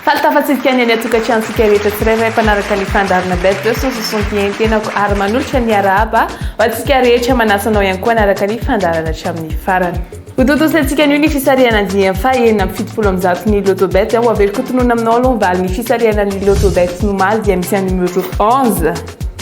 Fahitafatsirika ny any an-tokantranontsika rehetra tsirairay mpanaraka ny fandaharana Beth Dios no sosontihen-tenako ary manolotra ny arahaba ho antsika rehetra manasa anao ihany koa hanaraka ny fandaharana hatramin'ny farany. Hotontosaintsika anio ny fisarihana andiany faha enina amby fitopolo amby zato ny Lotto Bet. Ho averiko tonona aminao aloha ny valin'ny fisarihana ny Lotto Bet ny omaly dia misy an'ny numéro onze,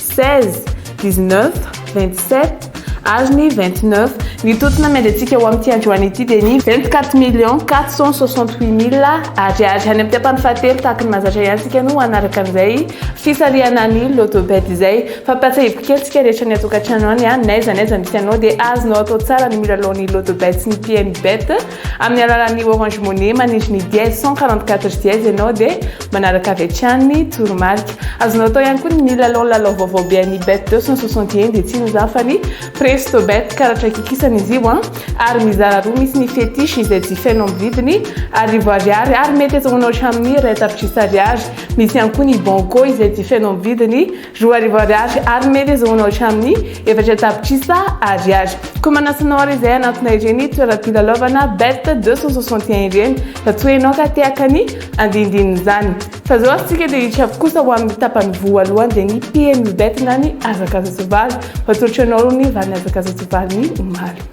seize, dix-neuf, vingt-sept ary ny vingt-neuf. Ny tontona miandriantsika ho amin'ity androany ity dia ny vingt-quatre millions quatre cent soixante-huit mille Ariary. Any amin'ny tapany fahatelo tahaky ny mahazatra ihany isika no hanaraka an'izay Fisarihana ny loto bet izay. Fampatsiahivo kely tsika rehetra any atokatrano any a, n'aiza n'aiza misy anao dia azonao atao tsara ny milalao ny loto bet sy ny pm bet amin'ny alalan'ny orange money manindry ny dièse cent quarante quatre dièse ianao dia manaraka avy hatrany ny toromarika. Azonao atao ihany koa ny milalao lalao vaovao be an'ny bet deux cent soixante et un dia tsy inona izany fa ny presto bet karatra kikisana izy io a ary mizara roa misy ny fetiche izay jifainao amin'ny vidiny arivo ariary ary mety azahoanao hatramin'ny iray tapitrisa ariary Misy ihany koa ny Banco izay jifaina amin'ny vidiny roa arivo ariary ary mety azahoanao hatramin'ny efatra tapitrisa ariary. Koa manasa anao àry izay hanatona ireny toeram-pilalaovana Bet 261 ireny raha toa ianao ka te haka ny andinindin'izany. Fa izao azontsika dia hiditra avy kosa ho amin'ny tapany voalohany dia ny PMU Bet na ny hazakazan-tsoavaly. Ho atolotra anao aloha ny valin'ny hazakazan-tsoavaly ny omaly.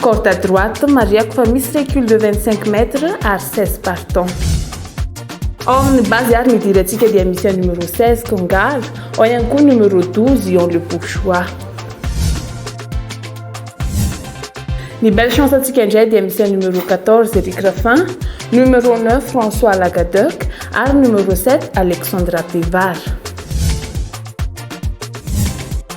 Corde à droite, marihako fa misy recul de 25 mètres ary 16 partants. Ao amin'ny base ary ny idirantsika dia misy a numéro 16 kongal, ao ihany koa numéro 12 ion le bourgeois. Ny belle chance antsika indray dia misy a numéro 14 Eric Raffin, numéro 9 François Lagaduc ary numéro 7 Alexandra Pevar.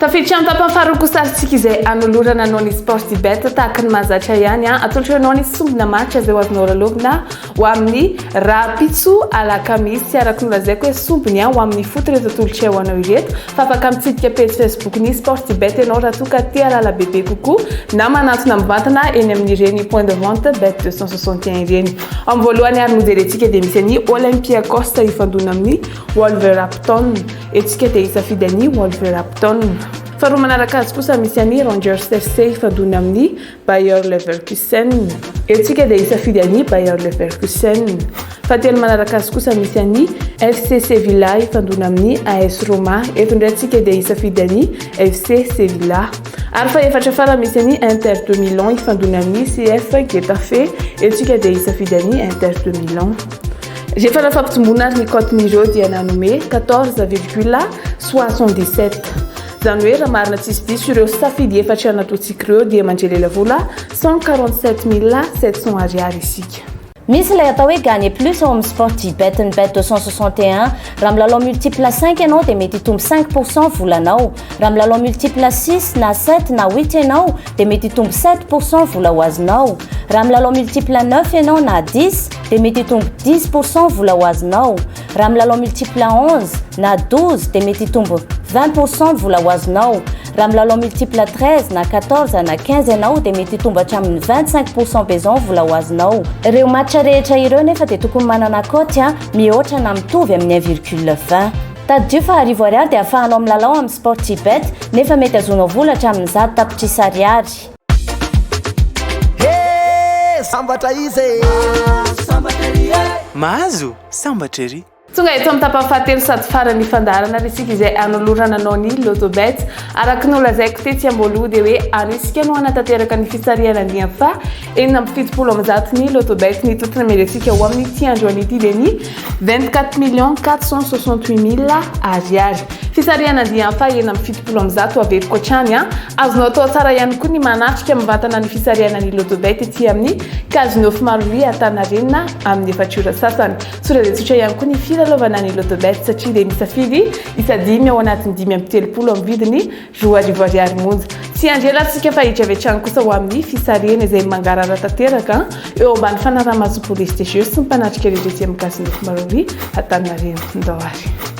Tafiditra amin'ny tapany faharoa kosa ary tsika izay anolorana noho ny Sportybet tahaka ny mahazatra ihany. Atolotra anao ny sombina marika izay ho azonao lalaovina ho amin'ny rahampitso alakamisy araka ny lazaiko hoe sombiny ho amin'ny ifoto ireto atolotray ho anao ireto fa afaka mitsidika pejy facebook ny sportibet ianao raha toa ka te halala bebe kokoa na manantona mivantana eny amin'ireny point de vente bet 261 ireny ao amin'ny voalohany ary nojerentsika dia misy an'i olympiakos hifandona amin'ny wolverhampton etsika dia hisafidy an'i wolverhampton faharoa manaraka azy kosa misy an'i rangers fc hifandona amin'ny Bayer Leverkusen. Eto isika dia hisafidy an'i Bayer Leverkusen. Fahatelo manaraka azy kosa misy an'i FC Sevilla hifandona amin'ny AS Roma. Eto indray isika dia hisafidy an'i FC Sevilla. Ary fahefatra farany misy an'i Inter de Milan hifandona amin'ny CF Getafe. Eto isika dia hisafidy an'i Inter de Milan. Rehefa nafampijomboana ary ny cote-n'ireo dia nanome 14,77. Zany hoe raha marina tsisy diso ireo safidy efatra natontsikr ireo dia mandre lela vola cent quarante sept mille sept cent ariary isika. Misy ilay atao hoe gagner plus ao amin'ny sportybet ny bet deux cent soixante et un raha milalao multiple cinq ianao dia mety hitombo cinq pour cent volanao raha milalao multiple six na sept na huit ianao dia mety hitombo sept pour cent vola ho azonao raha milalao multiple neuf ianao na dix dia mety hitombo dix pour cent vola ho azonao Raha milalao multiple à 11 na 12 dia mety hitombo 20 pour cent ny vola ho azonao. Raha milalao multiple à 13 na 14 na 15 ianao dia mety hitombo hatramin'ny 25 pour cent be izao ny vola ho azonao. Ireo match rehetra ireo nefa dia tokony manana cote a mihoatra na mitovy amin'ny un virgule vingt. Tadidio fa arivo ariary dia ahafahanao milalao amin'ny Sportybet nefa mety azonao vola hatramin'ny zato tapitrisa ariary. He! Sambatra izy e! Mahazo! Sambatra ery! Tonga eto amin'ny tapany fahatelo sady faran'ny fandaharana ary isika izay hanolorana anao ny Lotto Bets. Araka ny nolazaiko tetsy am-boaloha dia hoe any isika no hanatanteraka ny fisarihana andiany faha enina amby fitopolo amin'ny zato ny Lotto Bets ny toetra namely antsika ho amin'ity androany ity dia ny vingt quatre millions quatre cent soixante huit mille ariary. Fisarihana andiany faha enina amby fitopolo amin'ny zato averiko hatrany an! Azonao atao tsara ihany koa ny manatrika mivantana ny fisarihana ny Lotto Bets ety amin'ny Kajy nofy maro ry Antaninarenina amin'ny efatra ora sasany. Tsotra dia tsotra ihany koa ny filalaovana ny Lotobet satria dia misafidy isa dimy ao anatin'ny dimy amby telopolo amin'ny vidiny roa arivo ariary monja. Tsy ianjelantsika fa hijavy hatrany kosa ho amin'ny fisarihana izay mangarahara tanteraka eo ambany fanaraha-maso Police des Jeux sy ny mpanatrika rehetra ety amin'ny Kajy nofy maro ry Antaninarenina. Ndao ary.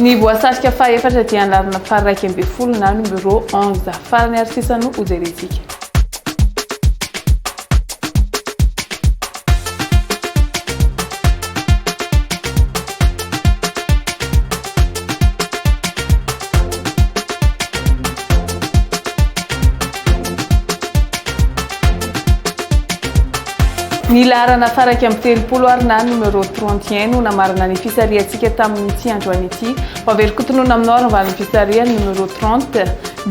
Ny voasarika fahefatra dia ny lavina faharaika ambin'ny folo na numéro onze. Farany ary sisa no hojerentsika. Ny laharana fara iraika amby telopolo ary na numéro 31 no namarana ny fisarihantsika tamin'ity androany ity. Ho avery kotonona aminao ary ny valin'ny fisarihan'ny numéro 30,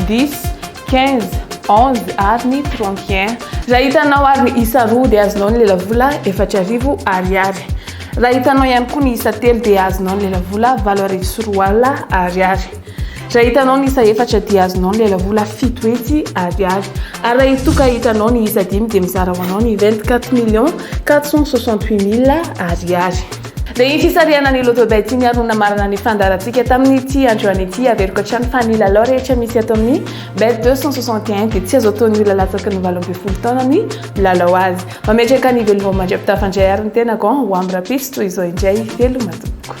10, quinze, onze ary ny trente et un. Raha hitanao ary ny isa roa dia azonao ny lelavola efatra arivo Ariary. Raha hitanao ihany koa ny isa telo dia azonao ny lelavola valo arivo sy roa alina Ariary. Raha hitanao ny isa efatra dia azonao ny lelavola fito hetsy Ariary. Ary raha itoa ka hitanao ny isa dimy dia mizara ho anao ny vingt-quatre millions quatre cent soixante-huit mille Ariary. Dia iny fisarihana ny Lotto Bets iny ary no namarana ny fandaharantsika tamin'ity androany ity. Averiko hatrany fa ny lalao rehetra misy ato amin'ny Bet deux cent soixante et un dia tsy azo ataon'ny olona latsaky ny valo ambin'ny folo taona ny milalao azy. Mametraka ny velivao mandra-pitafa indray àry ny tenako an! Ho amin'ny rahampitso toy izao indray, veloma tompoko.